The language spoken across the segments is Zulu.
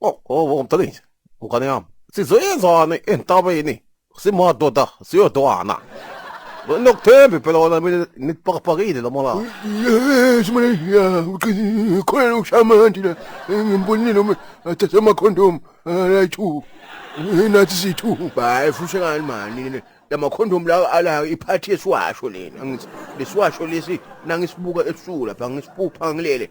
Oh, oh, oh, mntanethu, ngane yami. Sizoyenzani entabeni? Simadoda, siyodwana. Nokuthembi phela wona mina nipakapakile lo mola. Yes, mina ya uqinile khona ukushamandi la. Ngimbonile uma athathe ama condom la two. Nathi sithu. Hayi fushe ngani mani. Lama condom lawa ala iphathi esiwasho lena. Ngithi lesiwasho lesi nangisibuka ebusuku lapha ngisipupha ngilele.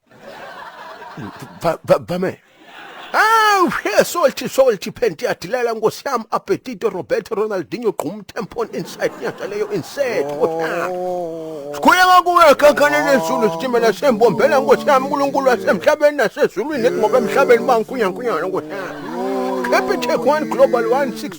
bame Aw, here salty salty phenti yadilela nkosi yami Apetito Roberto Ronaldinho gqum tempon inside nyaza leyo inside. Oh. Sikhule ngakuwe kakhane nezulu sitimela sembombela nkosi yami uNkulunkulu wasemhlabeni nasezulwini ngoba emhlabeni bankunyankunyana nkosi yami. Happy Tech One Global 160